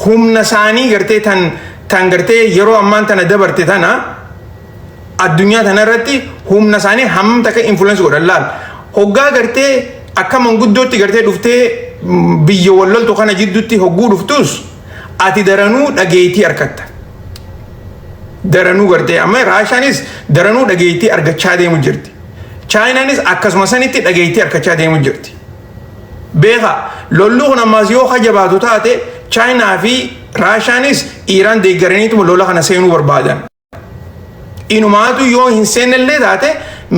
humna isaanii gartee tan tan gartee yeroo ammaan tana dabarte tana addunyaa tana irratti humna isaanii hammam takka influence godhan laal hoggaa gartee akka manguddootti gartee dhuftee mm, biyya walloltu kana jidduutti hogguu dhuftus ati daranuu dhageettii argatta daranuu gartee amma raashaanis daranuu dhageettii argachaa deemu jirti chaayinaanis akkasuma sanitti dhageettii argachaa deemu jirti beekaa lolli kun ammaas yoo ka jabaatu taate chaayinaa fi raashaanis iiraan deeggaraniituma lola kana seenuu barbaadan inumaatu yoo hin seennellee taate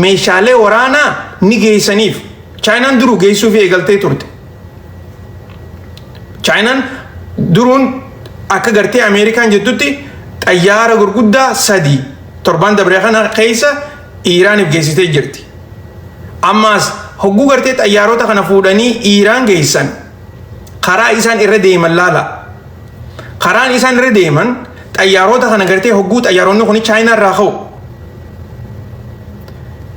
meeshaalee waraanaa ni geessaniif chaayinaan duruu geessuuf eegaltee turte chaayinaan duruun akka gartee ameerikaan jettutti xayyaara gurguddaa sadii torbaan dabree kana keessa Iiraaniif geessitee jirti. Ammaas hogguu gartee xayyaarota kana fuudhanii Iiraan geessan karaa isaan irra deeman laala. Karaan isaan irra deeman xayyaarota kana gartee hogguu xayyaaronni kun Chaayinaa irraa ka'u.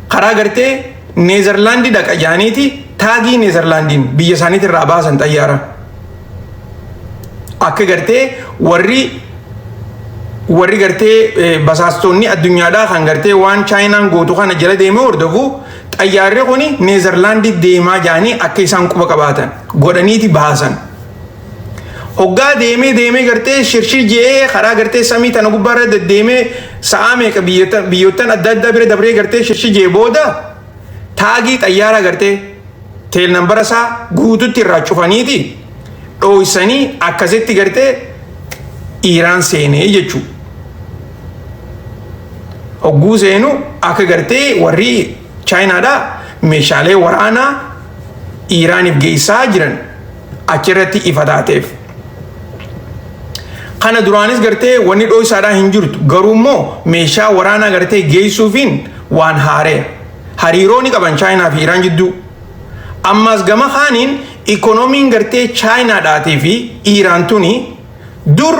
Karaa gartee Neezerlaandii dhaqa jaaniiti taagii Neezerlaandiin biyya isaaniitti irraa baasan xayyaara. akka gartee warri warri gartee eh, basaastonni addunyaadhaa kan gartee waan chaayinaan gootu kana jala deemee hordofu xayyaarri kun neezarlaandii deemaa jaanii akka isaan quba qabaatan godhaniiti baasan. Hoggaa deemee deemee gartee shirshir je'ee karaa gartee samii tana gubbaarra deddeemee sa'aa meeqa biyyattan adda addaa bira dabree gartee shirshir je'ee booda taagii xayyaara gartee teel nambara isaa guututti irraa cufaniiti dhooysanii akkasitti gartee Iiraan seenee jechuu. Hogguu seenu akka gartee warri Chaayinaadhaa meeshaalee waraanaa Iiraaniif geessaa jiran achirratti ifa taateef. Kana duraanis gartee wanni dhooysaadhaa hin jirtu garuu immoo meeshaa waraanaa gartee geessuufiin waan haaree hariiroo ni qaban chaayinaa fi Iraan jidduu. Ammaas gama kaaniin ikoonomiin gartee chaayinaadhaatii fi Iraan tuni dur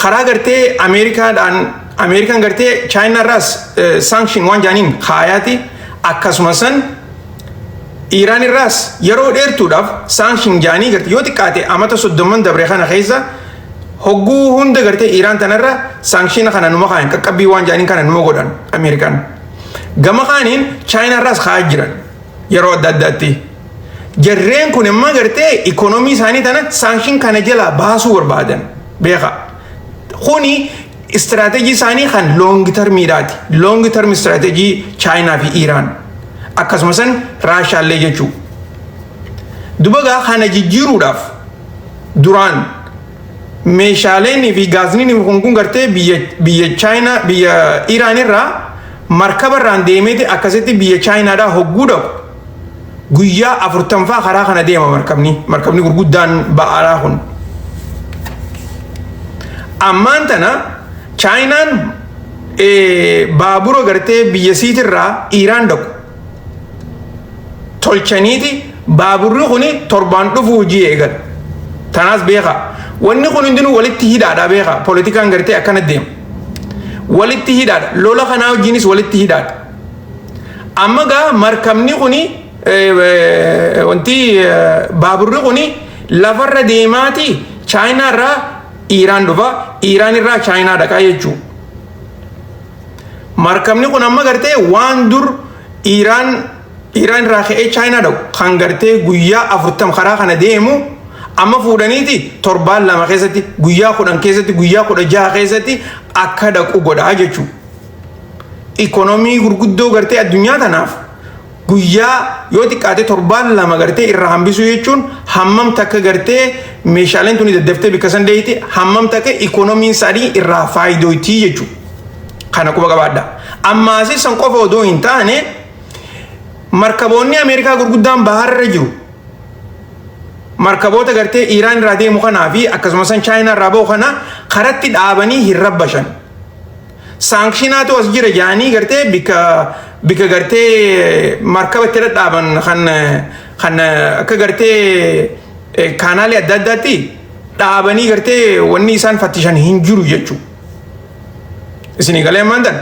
karaa gartee ameerikaadhaan ameerikaan gartee chaayinaarraas saankishin waan jaaniin kaayaati akkasuma san Iiraan irraas yeroo dheertuudhaaf saanshin jaanii garte yoo xiqqaate amata soddomman dabre kana keessa hogguu hunda gartee Iiraan tanarra saanshina kana numa kaayan qaqqabbii waan jaaniin kana numa godhan Ameerikaan. Gama kaaniin Chaayinaa irraas kaa'aa jiran yeroo adda addaatti. Jarreen kun immoo gartee ikoonomii isaanii tana saanshin kana jalaa baasuu barbaadan beeka. Kuni istiraateejii isaanii kan loongi tarmiidhaati. Loongi tarmi istiraateejii Chaayinaa fi Iiraan akkasumas Raashaallee jechuu. Dubagaa kana jijjiiruudhaaf duraan meeshaaleen fi gaazniin kun kun gartee biyya Chaayinaa biyya Iiraan irraa markaba irraan deemeeti akkasitti biyya Chaayinaadhaa hogguu dhaqu. guyyaa afurtanfaa karaa kana deema markabni markabni gurguddaan ba'aaraa kun ammaan tana chaayinaan baabura gartee biyya siitirraa iiraan dhaqu tolchaniiti baaburri kun torbaan dhufu hojii eegal tanaas beeka wanni kun hundinuu walitti hidhaadha beeka poolitikaan gartee akkana deema walitti hidhaadha lola kanaa wajjinis walitti hidhaadha Amma gaa markabni kuni wanti baaburri kuni lafarra deemaati chaayinaa irraa Iiraan dhufa Iiraan irraa chaayinaa dhaqaa jechuu. Markabni kun amma gartee waan dur Iiraan Iiraan irraa ka'ee chaayinaa dhaqu kan gartee guyyaa afurtam karaa kana deemu amma fuudhaniiti torbaan lama keessatti guyyaa kudhan keessatti guyyaa kudha jaha keessatti akka dhaqu godhaa jechuudha. ikonomii gurguddoo gartee addunyaa tanaaf guyyaa yoo xiqqaate torbaan lama gartee irraa hambisuu jechuun hammam takka gartee meeshaaleen tuni daddaftee bikka san deeyte hammam takka ikonomiin isaanii irraa faayidootii jechuudha. Kana quba qabaadha. Ammaasii san qofa odoo hin taane markaboonni Ameerikaa gurguddaan baharra jiru. Markaboota gartee Iiraan irraa deemu kanaa fi akkasumas Chaayinaa irraa bahu kana karatti dhaabanii hin rabbashan. Saankshiinaatu as jira jaanii gartee bika bika gartee markaba itti dhadhaaban kan kan akka gartee kaanaalee adda addaatti dhaabanii gartee wanni isaan fattishan hin jiru jechuudha. Isinii galee ammaan tan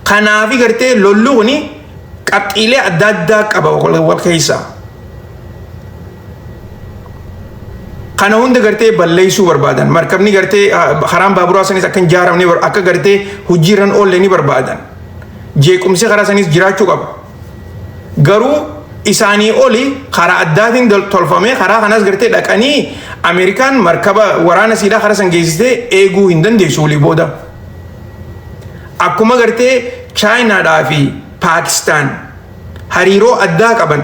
kanaafi gartee lolli kuni qabxiilee adda addaa qaba wal keessaa. kana hunda gartee balleessuu barbaadan markabni gartee karaan baaburaa sanis akka hin jaaramne akka gartee hojiirran oolle ni barbaadan jeequmsi karaa sanis jiraachuu qaba garuu isaanii oli karaa addaatiin tolfamee karaa kanas gartee dhaqanii ameerikaan markaba waraana siidhaa karaa san geessitee eeguu hin dandeessu walii booda akkuma gartee chaayinaadhaa fi paakistaan hariiroo addaa qaban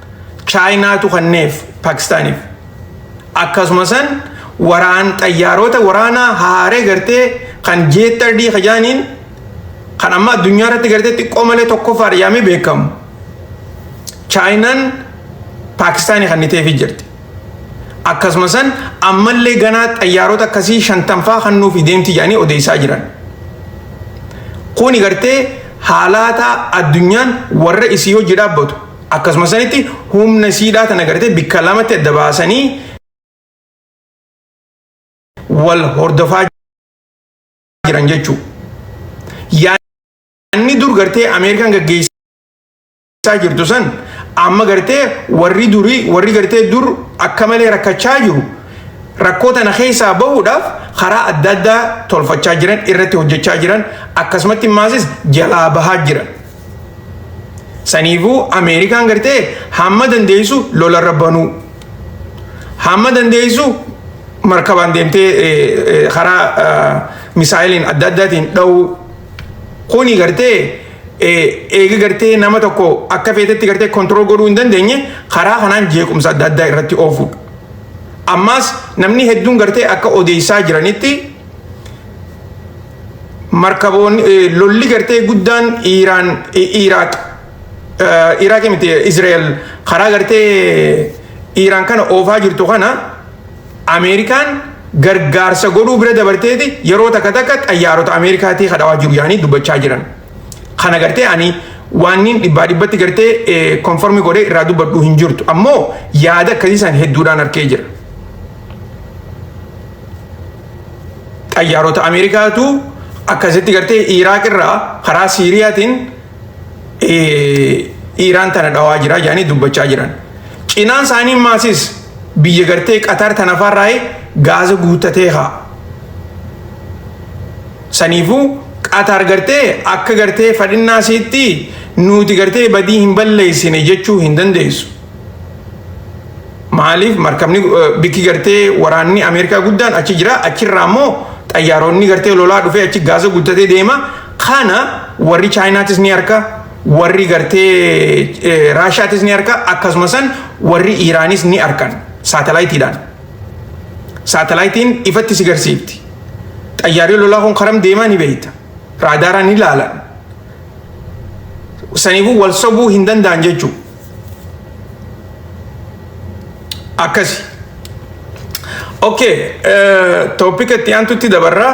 Chaayinaatu kanneef Paakistaaniif. Akkasuma san waraan xayyaaroota waraanaa haaree gartee kan jeettardii kajaaniin kan amma addunyaa irratti gartee xiqqoo malee tokkoffaa dhiyaamee beekamu. Chaayinaan Paakistaanii kanniteefii jirti. Akkasuma san ammallee ganaa xayyaaroota akkasii shantanfaa kannuufi deemti jedhanii odeessaa jiran. Kuni gartee haalaataa addunyaan warra isii hojii dhaabbatu Akkasuma sanitti humna isiidhaa tana gartee bikka lamatti adda baasanii wal hordofaa jiran jechuu. Yaanni dur gartee Ameerikaan gaggeessaa jirtu san amma gartee warri durii warri gartee dur akka malee rakkachaa jiru rakkoo tana keessaa bahuudhaaf karaa adda addaa tolfachaa jiran irratti hojjechaa jiran akkasumatti maasis jalaa bahaa jiran. Saniifuu Ameerikaan gartee hamma dandeessu lolarra banuu. Hamma dandeessu markabaan deemtee karaa misaayiliin adda addaatiin dha'uu. Kuni gartee eega gartee nama tokko akka feetetti gartee kontirool godhuu hin dandeenye karaa kanaan jeequmsa adda addaa irratti oofuudha. Ammaas namni hedduun gartee akka odeessaa jiranitti markaboon lolli gartee guddaan Iiraan Iiraaq Iiraaq miti Izraa'el karaa gartee Iiraan kana oofaa jirtu kana Ameerikaan gargaarsa godhuu bira dabarteeti yeroo takka takka xayyaarota Ameerikaatii kadhawaa jiru yaanii dubbachaa jiran. Kana gartee ani waanniin dhibbaa dhibbatti gartee konformi godhee irraa dubbadhu hin jirtu ammoo yaada akkasiisan hedduudhaan arkee jira. xayyaarota Ameerikaatu akkasitti gartee Iraaq irraa karaa Siiriyaatiin Iraan tana dhawaa jira jedhanii dubbachaa jiran. Cinaan isaanii maasis biyya gartee Qatar tana farraa'e gaaza guuttatee haa. Saniifuu Qatar gartee akka gartee fadhinnaa siitti nuti gartee badii hin balleessine jechuu hin dandeessu. Maaliif markabni bikki gartee waraanni Ameerikaa guddaan achi jira achirraa immoo xayyaaronni gartee lolaa dhufee achi gaasa guddatee deema kana warri chaayinaatis ni harka warri gartee raashaatis ni harka akkasuma san warri iiraanis ni harkan saatalaayitiidhaan saatalaayitiin ifatti si garsiifti xayyaarri lolaa kun karam deemaa ni beekta raadaaraan ni laalan saniifuu wal sobuu hin danda'an jechuudha. akkasi ok toopika itti aantutti dabarraa